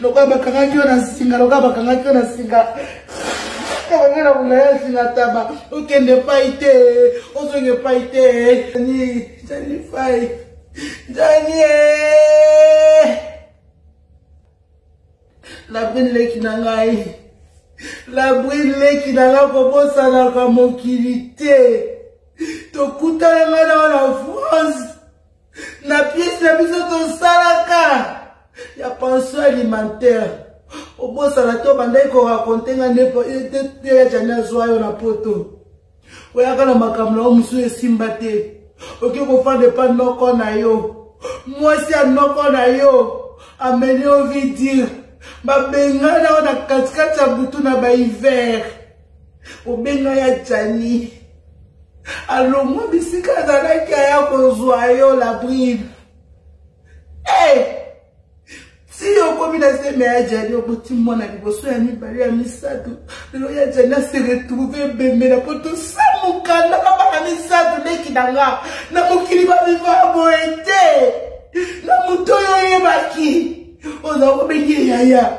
lokola bakangaki yo na nsinga lokola bakangaki yo na nsinga kabanga na kuna ya nsinga taba okende epai te ozonga epai te ni jani fai jani labrini leki na ngai labrini leki na ngai kobosanaka mokili te tokutana ngai na wana france na pièce na biso tosalaka ya pension alimentaire obosana te obandaki korakonte nga nde ya jani azwa yo na poto oyaka na makambo na yo mosusu esimba te oke kofanda epa noko na yo mwasi ya noko na yo ameni ovi dire babengana yo na katikati ya butu na bahiver obenga ya jani alongwa bisika azalaki aya kozwa yo la bride hey! Eh! ti okomi na zeme ya jani oboti mwana liboso ya mibale ya misato lelo ya jani ase retrouve ebembela mpo tosa mokanda na bana misato leki na nga na mokili baviva boye te na moto oyo oyebaki oza kobengi yaya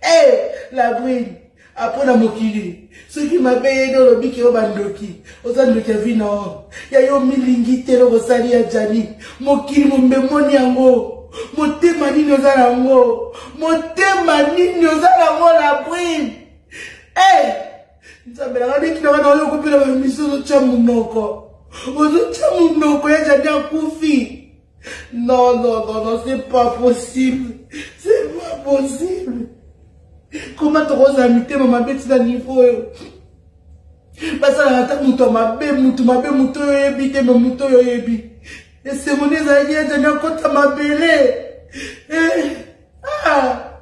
Hey, eh, la brille apres na mokili soki mabe yede olobi ke yo bandoki oza ndoki ya vina o ya yo milingi te eloko osali ya jani mokili mombe moni yango motema nini oza na yango motema nini oza na yango la brine e eh, nzambe nanga ndeki nanga na oyo okopela bamisi ozotya monoko ozotya monoko ya jani akufi Non, non, non, non, c'est pas possible. C'est pas possible. Comment tu roses à mité, maman, bête, c'est un niveau. basalaka ata moto ya mabe moto mabe moto oyo oyebi te me moto oyo oyebi esemoni ezalaki ete nakota mabele eh, ah,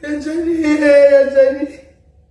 ejani eh, ejani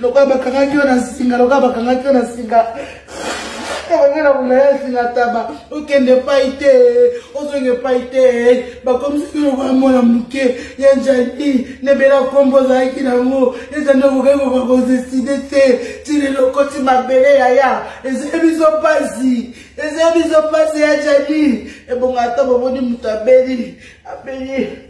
lokola bakangaki yo na nsinga lokola bakangaki yo na nsinga bangai na kolaya nsinga taba okende epai te ozonga epai te bakomisaki lokola mwana moke ya jani nebela nkombo ozalaki nango eza nde okokaki koka kodeside te tina eloko ti mabele yaya ezali biso mpasi ezali biso mpasi ya jani ebonga ata bomoni moto abeli abeli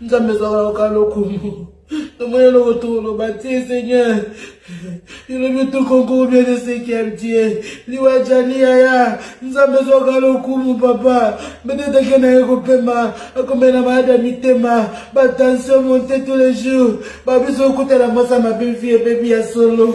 nzambe ezalaka loka lokumu tomoni eloko toloba te seigneur elobi tokonkuru bien de cinquième tie liwa jali yaya nzambe ezwaka lokumu papa mbetoteke na ye kopema akomela na maladi ya mitema batension monte tous les jours babiso okutela mwasa mabe vie ebebi ya solo